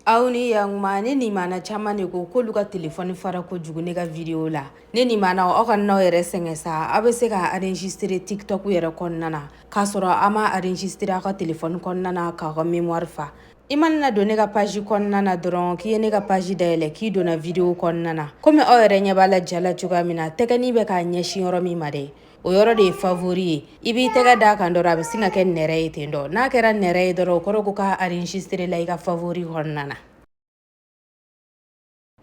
aw ni yankuma ne nimana caman de ko k'olu ka telefɔni fara kojugu ne ka video la ne nimanaw aw kan'aw yɛrɛ sɛgɛn sa aw bɛ se k'a enregistre tiktok yɛrɛ kɔnɔna na k'a sɔrɔ a ma enregistre aw ka telefɔni kɔnɔna na k'aw ka mémoire fa i mana na don ne ka paji kɔnɔna na dɔrɔn k'i ye ne ka paji dayɛlɛ k'i donna video kɔnɔna na komi aw yɛrɛ ɲɛ b'a la ja la cogoya min na tɛgɛni bɛ k'a ɲɛsin yɔrɔ min ma dɛ o yɔrɔ de ye favori ye i b'i tɛgɛ d'a kan dɔrɔn a bɛ sin ka kɛ nɛrɛ ye ten dɔ n'a kɛra nɛrɛ ye dɔrɔn o kɔrɔ ko k'a enregistré la i ka favori kɔnɔna na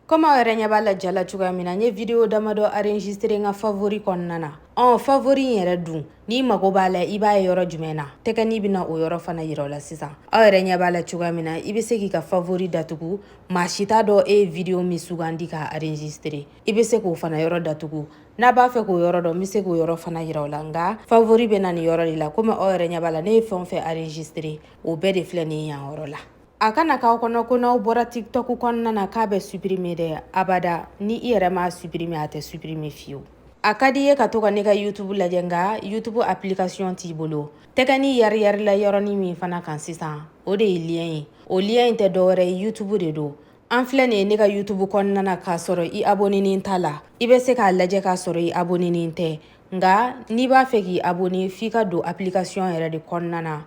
komi aw yɛrɛ ɲɛ b'a la ja la cogoya min na n ye video damadɔ enregistré n ka favori kɔnɔna na ɔ favori in yɛrɛ dun n'i mago b'a la i b'a ye yɔrɔ jumɛn na tɛgɛni bɛna o yɔrɔ fana yira aw la sisan aw yɛrɛ ɲɛ b'a la cogoya min na i bɛ se k'i ka favori datugu maa si t'a dɔn e ye video min sugandi k'a enregistré i bɛ se k'o fana yɔrɔ datugu n'a b'a fɛ k'o yɔrɔ dɔn n bɛ se k'o yɔrɔ fana yira aw la nka favori bɛ na nin yɔrɔ de la komi aw yɛrɛ ɲɛ b'a la ne ye fɛn o fɛn enregistré o bɛɛ de filɛ nin ye yan yɔrɔ la a kana k'aw kɔnɔ ko n'aw bɔra tiktok kɔnɔna na k'a bɛ supprimer dɛ abada ni i yɛrɛ m'a supprimer a tɛ supprimer fiyewu a ka d'i ye ka to ka ne ka youtube lajɛ nka youtube application t'i bolo tɛgɛni yariyarila yɔrɔnin min fana kan sisan o de ye lien ye o lien in tɛ dɔwɛrɛ ye youtube de don an filɛ nin ye ne ka youtube kɔnɔna na k'a sɔrɔ i abonenen t'a la i bɛ se k'a lajɛ k'a sɔrɔ i abonenen tɛ nka n'i b'a fɛ k'i abone f'i ka don application yɛrɛ de kɔnɔna na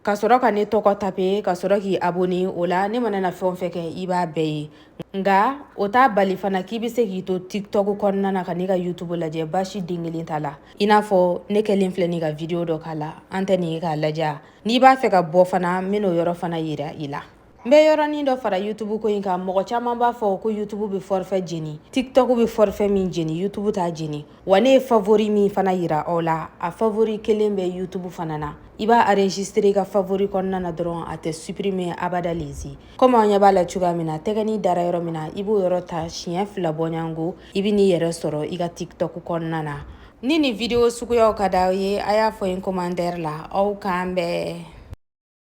ka sɔrɔ ka ne tɔgɔ tape ka sɔrɔ k'i abone o la ne mana na fɛn o fɛn kɛ i b'a bɛɛ ye nka o t'a bali fana k'i bɛ se k'i to tiktok kɔnɔna na ka ne ka youtube lajɛ basi den kelen t'a la i n'a fɔ ne kɛlen filɛ nin ka video dɔ k'a la an tɛ nin ye k'a lajɛ n'i b'a fɛ ka bɔ fana n bɛn'o yɔrɔ fana yira i la n bɛ yɔrɔnin dɔ fara yutubu ko in kan mɔgɔ caman b'a fɔ ko yutubu bɛ fɔrifɛ jeni tiktok bɛ fɔrifɛ min jeni yutubu t'a jeni wa ne ye favori min fana yira aw la a favori kelen bɛ yutubu fana na i b'a enregistre i ka favori kɔnɔna na dɔrɔn a tɛ supprimer abada lezi komi aw ɲɛ b'a la cogoya min na tɛgɛni dara yɔrɔ min na i b'o yɔrɔ ta siɲɛ fila bɔ ɲɔgɔn kɔ i bɛn'i yɛrɛ sɔrɔ i ka tiktok kɔnɔna na ni nin video suguyaw ka d'aw ye a y'a fɔ n commentaire la aw k'an bɛn